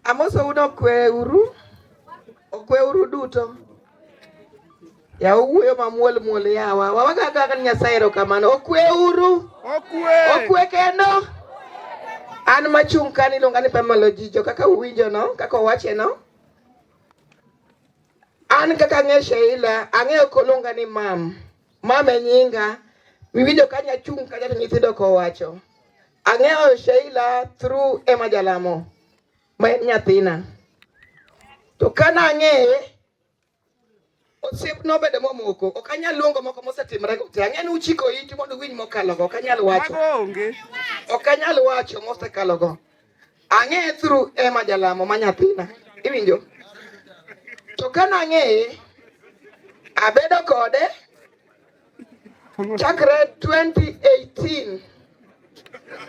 Amosou nokweuru, okweuru duto. Ya owuoyo mamuol muol yawa. Wawaga kaka ni Nyasaye erokamano. Okweuru. Okwe. Okwe kendo. An machung' ka niluonga ni Pamela Ojijo kaka uwinjo no, kaka owache no. An kaka ang'e Sheila, ang'eyo koluonga ni mam. Mama e nyinga. Miwinjo ka nyachung' kacha to nyithindo kowacho. Ang'eyo Sheila through Emma Jalamo ma en nyathina. To kana ang'eye osiep nobedo momoko ok anyal luongo moko mosetimre go te ang'e ni uchiko iti mondo uwinj mokalo go ok anyal wacho ok anyal wacho mosekalo go Ang'eye through Emma Jalamo ma nyathina. Iwinjo? To ka nang'eye abedo kode chakre 2018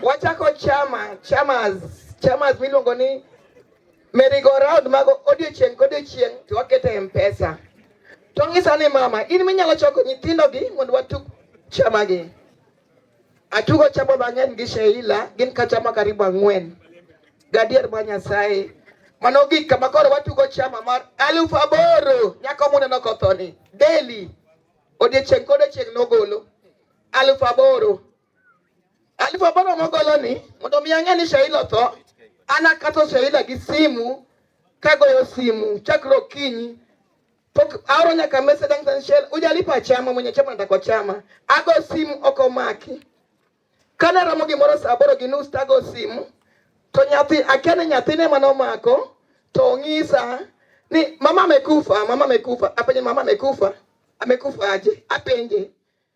wachako chama chamas chamas miluongo ni merry-go-round mago odiochieng' kodiochieng' to wakete e mpesa to ng'isa ni mama in minyalo choko nyithindogi mondo watug chamagi Atugo chama mang'eny gi Sheila, gin ka chama karibu ang'wen. Gadier ma Nyasaye. Mano gik kama koro watugo chama mar alufu aboro nyako muneno kothoni daily odiechieng' kodiechieng' nogolo alufu aboro alufu aboro mogolo ni mondo mi ang'e ni Sheila otho ana kato Sheila gi simu kagoyo simu chakre okinyi Pok aoro nyaka message ang tan shell. Ujalipa chama mwenye chama nataka kwa chama. Ago simu oko maki. Kana ramo gimoro saa aboro gi nus tago simu. To nyathi akia ni nyathine mane omako to ong'isa ni mama amekufa, mama amekufa. Apenje mama amekufa, amekufa aje? Apenje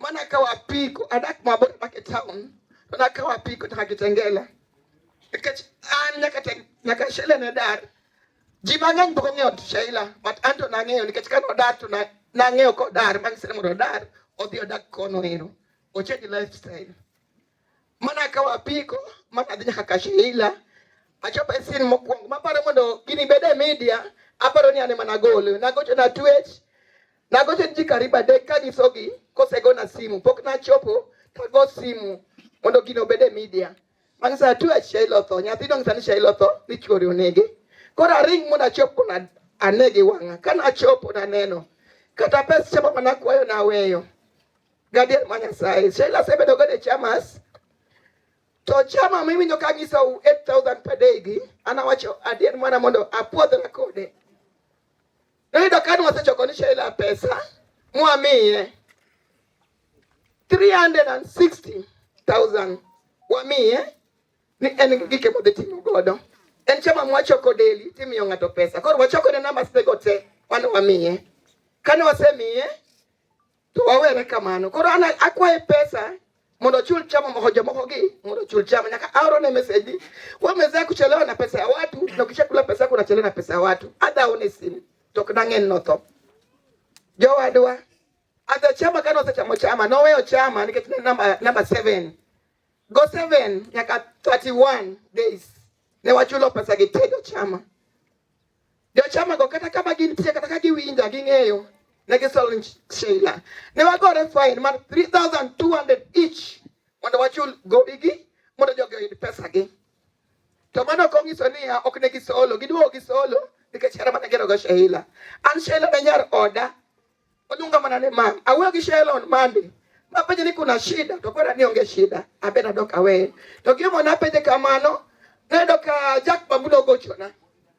Mana ka wapiko adak mabor adak e town to na ka wapiko nyaka Kitengela nikech an nyaka te- nyaka Sheila ne dar ji mang'eny pok ong'eyo Sheila but an to nang'eyo nikech ka nodar to na- nang'eyo kodar bang' sere mondo odar odhi odak kono ero ochange lifestyle Mana akawo apiko ma adhi nyaka Kashila achopo e sin mokwongo maparo mondo gini bed e media aparo ni ane mana gole nagocho na twech nagocho ji karibu adek ka nyisogi kosegona simu pok nachopo tago simu mondo gino obed e media bang' saa twech Shailo tho nyathi dong' sani Shailo tho ni chuori onege koro aring mondo achop kuna anegi wang'a ka nachopo naneno kata pes chapa mana kwayo naweyo Gadier ma Nyasaye. Sheila asebedo go e chamas. To chama mimi nyo kanyisa 8000 per day gi anawacho adier mana mondo apuodhra kode. Noyudo kani wasechoko ni Sheila pesa mwamiye 360,000 wamiye ni en gike modhi timo godo. En chama mwachoko daily timiyo ng'ato pesa. Koro wachoko ne numbers tego te wan wamiye. Kane wasemiye To wawere kamano. Koro ana akwaye pesa mondo ochul chama moko jomoko gi mondo ochul chama nyaka aoro ne message ni wewe umeweza kuchelewa na pesa ya watu na kisha kula pesa yako unachelewa na pesa ya watu adha one simu to kdangen no tho jowadwa adha chama kana osechamo chama noweyo chama nikech ne namba namba 7 go 7 nyaka 31 days ne wachulo pesa gi tedo chama Jochamago kata kama gintie kata ka giwinja ging'eyo ne gisolo ni Sheila. Ne wagore fain mar 3200 each mondo wachul gowigi mondo jogi oyud pesagi. To mano ok onyiso niya ok ne gisolo, giduogo gisolo nikech hera mane girogo Sheila. An Sheila ne nyar oda oluonga mana ni mam. Awuoyo gi Sheila on Monday. Napenje ni kuna shida, to kwera ni onge shida. Abena doka we. To gimo napenje kamano, nendo ka Jack Bambulo gochona.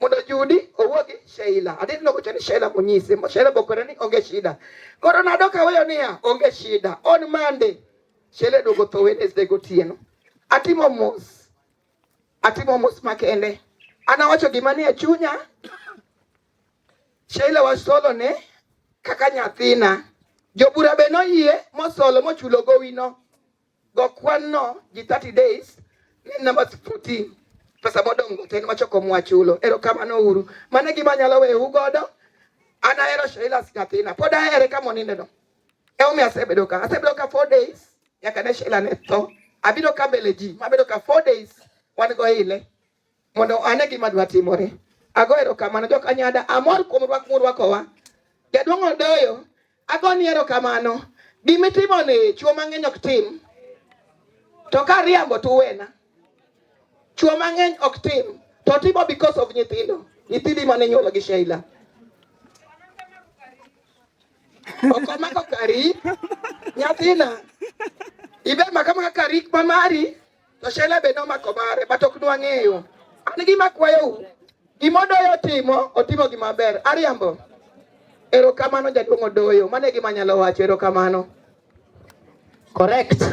mondo Judi owuo gi Sheila. Adhi loko chani Sheila munyise. Sheila bokore ni onge shida. Koro nado kaweyo niya onge shida. On Monday Sheila duogo tho Wednesday gotieno. Atimo mos. Atimo mos makende. Anawacho gima ni e chunya. Sheila wasolo ne kaka nyathina. Jobura be noyie mosolo mochulo gowino. Go kwan no ji 30 days ni number 14 pesa modong' go ten wachoko mwachulo. Erokamano uru. Mane gima anyalo weyou godo. An ahero Sheila Sikathina. Pod ahere ka moninde no. Emomiyo asebedo ka. Asebedo ka 4 days nyaka ne Sheila ne tho. Abiro ka mbele ji. Mabedo ka 4 days wan go ile. mondo ane gima dwa timore. Ago erokamano jok anyada, amor kuom rwak murwakowa. Jaduong' Odoyo, agoni erokamano. Gimitimo ni chuo mang'eny ok tim, to ka riambo to uwena. Chuo mang'eny ok tim, to timo because of nyithindo, nyithindi mane nyuolo gi Sheila. Okomako kari, nyathina, ibe maka maka kari mamari, To Shela be nomako mare, but ok nwang'eyo. An gima kwayou, gima Odoyo otimo, otimo gima ber. Ariambo. Erokamano jaduong' Odoyo, mano e gima anyalo wacho, erokamano. Correct.